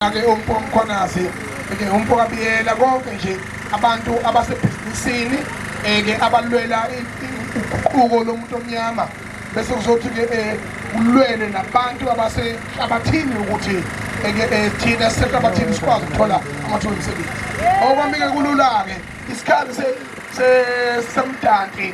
ake umfo omkhonazi ke umfo kabiyela konke nje abantu abasebhizinisini eke eh, abalwela uguquko lomuntu omnyama bese kuzothi ke eh, kulwele nabantu abasehlabathini ukuthi eke eh, thina sisehlabathini sikwazi ukuthola amathuba omsebenzi okwamike kulula-ke isikhathi semdanti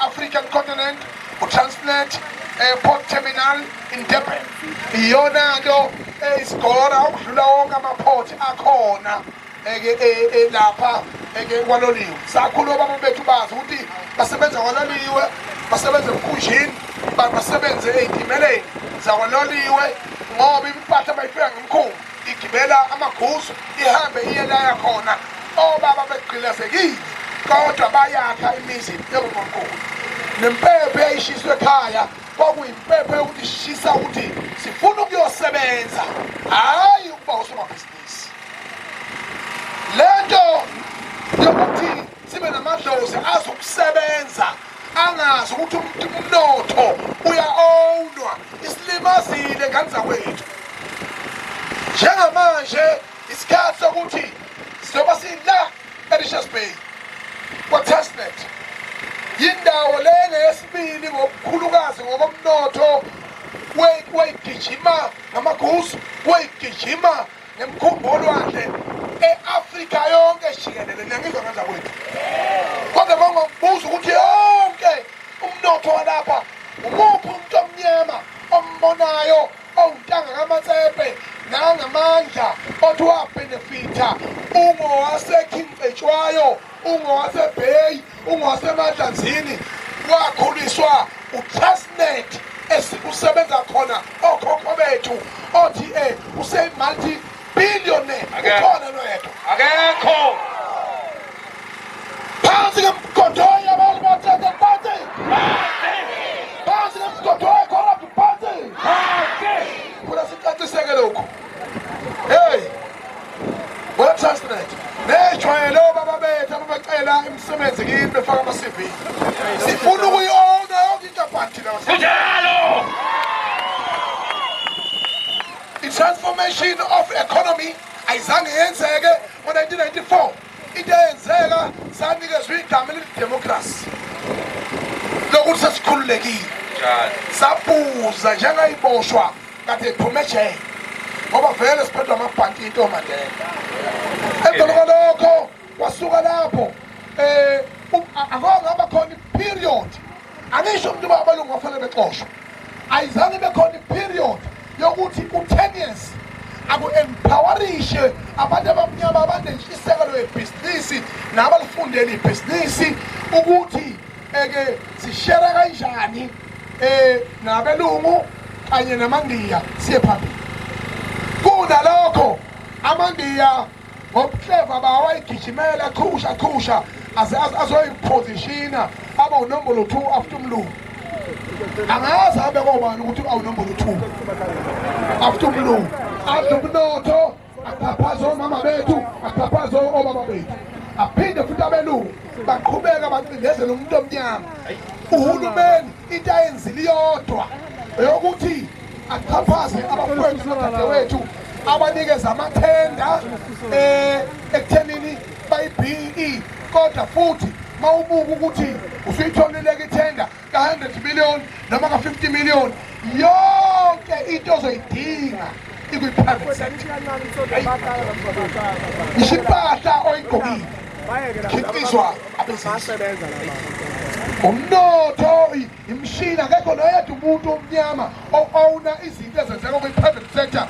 African Continent, uTransnet, Airport eh, Terminal in Durban. Iyona nto eyisigora eh, ukudlula wonke amaport akhona eke eh, lapha eke kwaloliwe. Sakhulu obaba bethu bazi ukuthi basebenza kwaloliwe, basebenza emkhunjini, basebenze ezimeleni zakwaloliwe ngoba impahla bayifika ngemkhulu. igibela amaguzu ihambe iye laya khona obaba begqilazekile kodwa bayakha imizi yobunkulu nempepho eyayishiswe ekhaya kwakuyimpepho yokuthi shisa ukuthi sifuna ukuyosebenza hhayi ukuba usomabhizinisi le nto yokuthi sibe namadlozi azokusebenza angazi ukuthi umnotho uya-ownwa isilimazile ngane zakwethu njengamanje isikhathi sokuthi sizoba sila erishes bay kwatestnet yindawo le ngeyesibili ngokukhulukazi ngokomnotho weyigijima ngamaguzu weyigijima nemkhumbulwakhe e-afrika yonke jikelele niyangizwa ngenza kwethu kodwa bangokubuza ukuthi yonke umnotho walapha umuphi umuntu omnyama ombonayo owuntanga kamatsepe nangamandla othi wabenefitha ungowasekhingcetshwayo ungowasebheyi ungowasemadlanzini wakhuliswa utrustnet esikusebenza khona okhokho bethu othi um eh, useyimulti billionaire ukhona noyedwa akekho phansi kemgodoyi abantu bathethe phansi phansi kemgodoyi corrupt phansi funa sicaciseke lokhu heyi ngoTestnet nejwayele obaba bethu ababacela imisebenzi kimi befaka ama-cv sifuna ukuyi-owna yonke inkampani thina kunjalo i-transformation of economy ayizange yenzeke ngo-1994 into eyenzeka sanikezwa igama elithi democracy lokuthi sesikhululekile sabuza njengayiboshwa kade iphume ejele ngoba vele siphethwa amabhanti into mandela emveni kwalokho wasuka lapho um akho ngaba khona iperiod angisho ukuthi uba abalungu bafanele bexoshwe ayizange ibe khona iperiod yokuthi ku-tenius aku-empowerishe abantu abamnyama abanentshisekelo yebhizinisi nabalifundele ibhizinisi ukuthi eke sishere kanjani um nabelungu kanye namandiya siye phambili kunalokho amandiya ngobuhleva bawo wayigijimela chusha chusha aze azoyiphozishina aba unombolo 2 after umlungu angazi abe kobani ukuthi awunombolo 2 after umlungu adle umnotho axhaphaze omama bethu axhaphaze obaba bethu aphinde futhi abelungu baqhubeka bacindezela umuntu omnyama uhulumeni into ayenzile iyodwa eyokuthi axhaphaze abafowethu nodadewethu abanikeza amathenda eh, ekuthenini bayi-BE kodwa futhi mawubuka ukuthi usuyitholileke ithenda ka-100 million noma ka-50 million yonke into ozoyidinga ikwi-private sector ngisho impahla oyigqokile khiphiswa abezisebenza umnotho imishini akekho noyedwa umuntu omnyama o-owna izinto ezenzeka kwi-private sector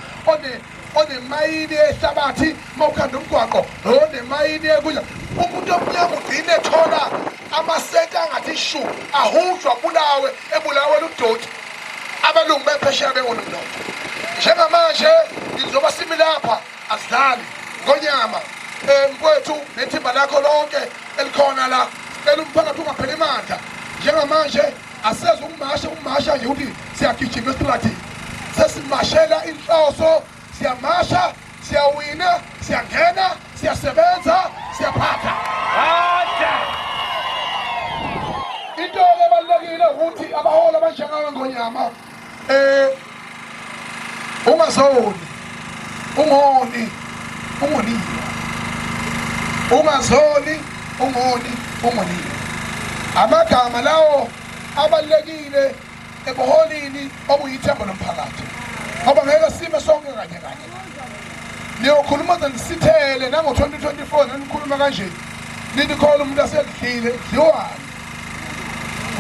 onemayini ehlabathi uma ukhanda umgwaqo onemayini ekudla umuntu omnyama ugcine ethola amasenti angathi shu ahujwa bulawe ebulawe ludoti abelungu bephesheya bengonumnotho njengamanje ngizoba simi lapha asidlali ngonyama um kwethu nethimba lakho lonke elikhona la sicela umphakathi ungapheli mandla njengamanje aseze ukumasha ukumasha nje ukuthi siyagijima esiphakathini sesimashela inhloso siyamasha siyawina siyangena siyasebenza siyaphatha into ebalulekile ukuthi abaholi abanjengawe ngonyama Eh ungazoni ungoni ungonile ungazoni ungoni ungonile amagama lawo abalekile ebuholini obuyithemba lomphakathi ngoba ngeke sime sonke kanye kanye niyokhuluma ze nisithele nango-2024 nanikhuluma kanje nithi khona umuntu asedlile dliwani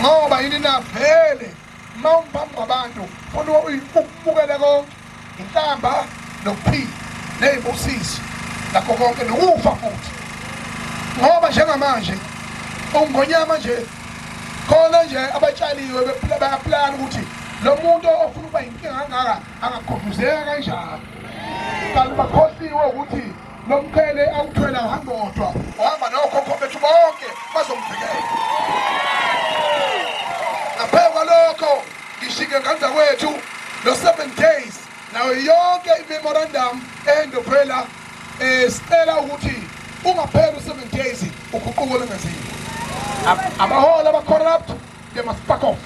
ngoba yini navele uma ungiphambi kwabantu funa ukubukele konke inhlamba nokuphila ney'busiso nakho konke nokufa futhi ngoba njengamanje ungonyama nje khona nje abatshaliwe bephila bayaplana ukuthi lo muntu ofuna ukuba yinkinga angaka angakhuduzeka kanjani kanti bakhohliwe ukuthi Lo mqhele awuthwela uhamba wodwa, uhamba nokhokho bethu bonke bazomvikela. Ngaphezu kwalokho ngishike ngenza kwethu lo 7 days nayo yonke imemorandum endophela eh sicela ukuthi ungapheli u7 days uguquko lengeziwe abaholi abacorrupt they must back off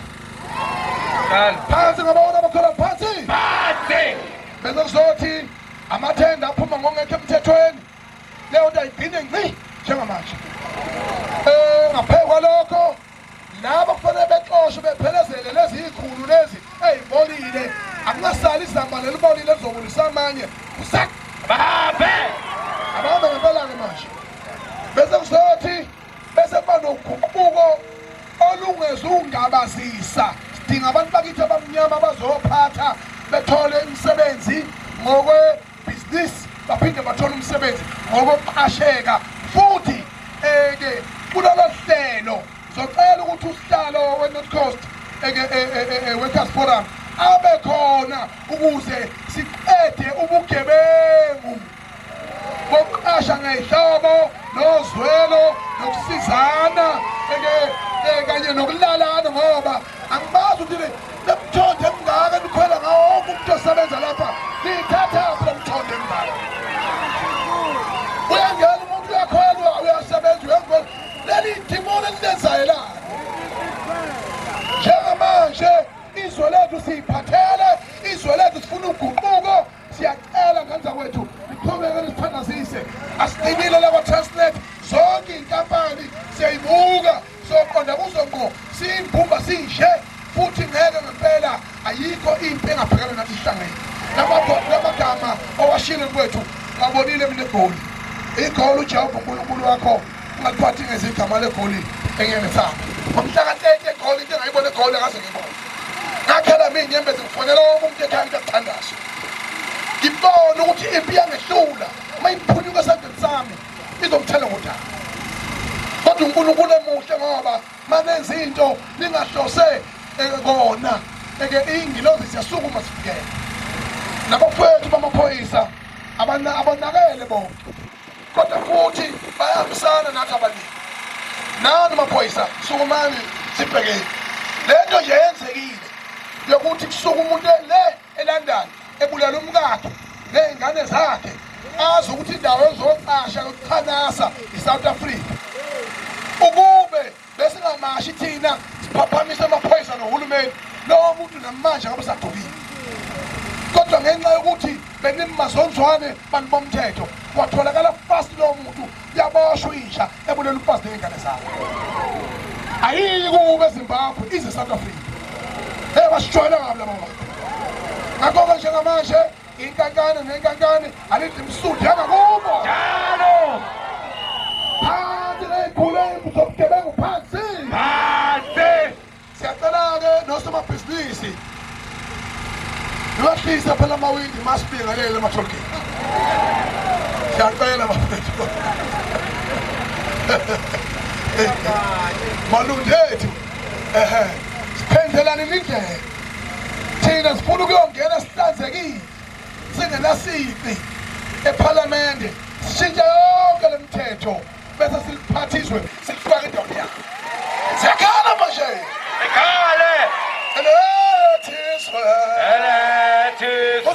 phansi ngabaholi abacorrupt phansi phansi bese kuzothi amathenda aphuma ngongekho emthethweni leyo nto ayigcine nci njengamanje um ngaphezu kwalokho laba kufanele bexoshwe bephelezele lezi yikhulu lezi eyibolile akungasali izamba lelibolile lizobulisa amanye usak babe abambe ngempela-ke manje bese kuzothi bese kuba noguquko olungezungabazisa sidinga abantu bakithi abamnyama bazophatha bethole imisebenzi ngokwebhizinisi baphinde bathole umsebenzi ngokokuqasheka futhi eke kulolo hlelo zocela ukuthi usihlalo we-north coast workers forum abe khona ukuze siqede ubugebengu kokuqasha ngehlobo nozwelo nokusizana eh, kanye nokulalana ngoba angibazi ukuthi nemthondo emngaka nikhwela ngawo wonke umuntu osebenza lapha niyithathaphi lo mthondo emngaka uyangena umuntu uyakhwelwa uyasebenza uyakhwela leli idimoni elilenzayo la njengamanje izwe lethu siyiphathele izwe lethu sifuna uguquko siyacela ngani zakwethu niqhubeke nisithandazise asiqinile lakwa-transnet zonke iy'nkampani siyayibuka soqonda kuzo ngqo siyimbumba sinje futhi ngeke ngempela ayikho impi engabhekana nathi sihlangene lamagama owashile kwethu ngabonile mina egoli igoli ujehova unkulunkulu wakho Ungaliphathi ngezigama legoli engenesaba. Ngomhlaka 30 egoli into engayibona egoli akaze ngibone. Ngakhela mina inyembezi ngifonela wonke umuntu ekhaya ukuthi akuthandaze. Ngibona ukuthi impi yangehlula uma iphunyuka esandleni sami izomthela ngodaba. Kodwa uNkulunkulu emuhle ngoba manenza into ningahlose eh, kona eke ingilozi siyasukuma sifikele. Nabafowethu bamaphoyisa abana abonakele bonke kodwa futhi bayahambisana nathi abaningi nani maphoyisa sukumani sibhekeni le nto nje yenzekile yokuthi kusuke umuntu le elondon ebulala umkakhe ney'ngane zakhe azi ukuthi indawo ezocasha yokuchanasa i-south africa ukube besingamashi thina siphaphamise amaphoyisa nohulumeni lowo muntu namanje akabusagqokile kodwa ngenxa yokuthi benimazonzwane bantu bomthetho watholakala fast lowo muntu yaboshwa inja ebulele umfazi ney'ngane zakhe ayiyi kuwe ezimbabwe ize south africa ey basijwayela kabi laba bantu ngakho-ke njengamanje Inkankane nenkankane alithi msudi angakubo. Njalo. Phansi ley'khulemu zobugebengu phansi. Phansi. Siyacela-ke nosomabhizinisi nibahlise phela amawindi masibingelele emathokeni. Siyacela bafethu. Malundu ethu. Ehe. Siphenzelani indlela. thina sifuna ukuyongena sihlanzekile singenasici ephalamende sishintshe yonke le mthetho bese siliphathizwe silifake indawo yakho siyakhala manje sikhale elethizwe elethizwe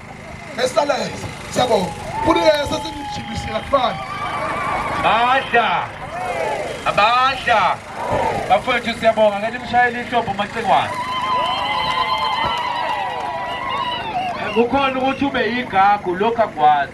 Esalayo. Siyabonga. Kunike sesingijibisile kufana. Badla. Abadla. Bafowethu siyabonga ngeke nimshayele inhlombo macingwane. Kukhona ukuthi ube yigagu lokho akwazi.